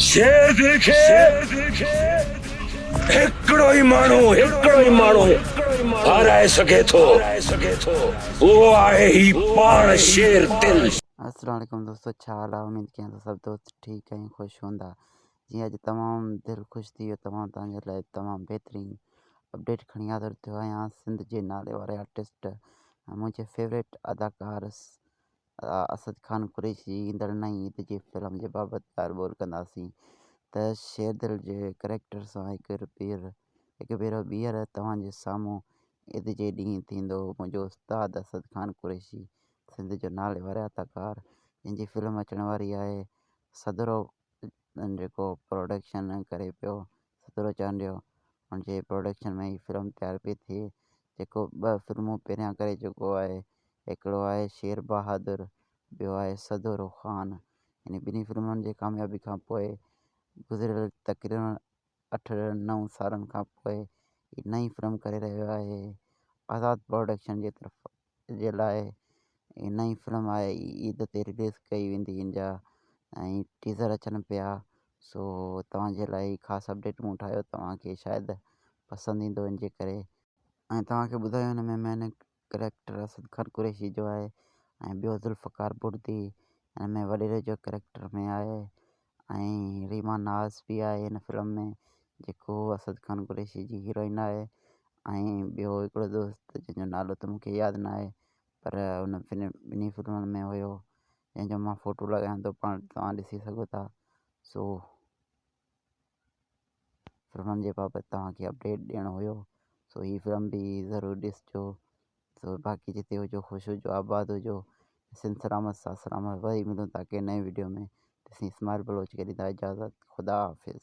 شعر دل کي هڪڙو ئي ماڻهو هڪڙو ئي ماڻهو هارائي سگهي ٿو اهو آهي هي پاڻ شعر دل. السلام عليڪم دوستو ڇا حال آ اميد ڪيان ٿو سڀ دوست ٺيڪ ۽ خوش هوندا جي اڄ تمام دل خوش ٿي ويو تمام توهان جي لاء تمام بهترين اپڊيٽ کڻي حاضر ٿيو آهيان سنڌ جي نالي واري آرٽسٽ ۽ منهنجي فيوريٽ اداڪار اسد خان قريشي جي ايندڙ نئين عيد جي فلم جي بابت ڳالهه ٻولهه ڪنداسين ته شيردل جي ڪريڪٽر سان هڪ ڀيرو ٻيهر توهان جي سامهون عيد جي ڏينهن ٿيندو منهنجو استاد اسد خان قريشي سنڌ جو ناليواري اداڪار جنهن جي فلم اچڻ واري آهي سڌرو جيڪو پروڊڪشن ڪري پيو ستورو چانڊيو ان جي پروڊڪشن ۾ هي فلم تيار پئي ٿئي جيڪو ٻه فلمون پهريان ڪري چڪو آهي هڪڙو آهي شير بهادر ٻيو آهي سدورو خان ان ٻنهي فلمن جي ڪاميابي کان پوء گذريل تقريبن اٺ نو سالن کان پوء هي نئين فلم ڪري رهيو آهي آزاد پروڊڪشن جي طرف جي لاء هي نئين فلم آهي عيد تي رليز ڪئي ويندي ان جا ۽ ٽيزر اچن پيا سو توهانجي لاء هي خاص اپڊيٽ مون ٺاهيو توهانکي شايد پسند ايندو ان جي ڪري ۽ توهانکي ٻڌايو ان ۾ مينڪ ڪريڪٽر اسد خان قريشي جو آهي ۽ ٻيو ذوالفقار بڙدي ان ۾ وڏيري جو ڪريڪٽر ۾ آهي ۽ ريما ناز به آهي ان فلم ۾ جيڪو اسد خان قريشي جي هيروئن آهي ۽ ٻيو هڪڙو دوست جنهن جو نالو ته مونکي ياد نه آهي پر ان فلم ٻنهي فلمن ۾ هيو جنهن جو مان فوٽو لڳايان ٿو پاڻ توهان ڏسي سگهو ٿا سو فلمن جي بابت توهان کي اپڊيٽ ڏيڻو هيو سو هي فلم به ضرور ڏسجو سو باقي جتي هجو خوش هجو آباد هجو سنڌ سلامت ساٿ سلامت وري ملون تاڪي نئين ويڊيو ۾ تيسين اسماعيل بلوچ کي ڏيندا اجازت خدا حافظ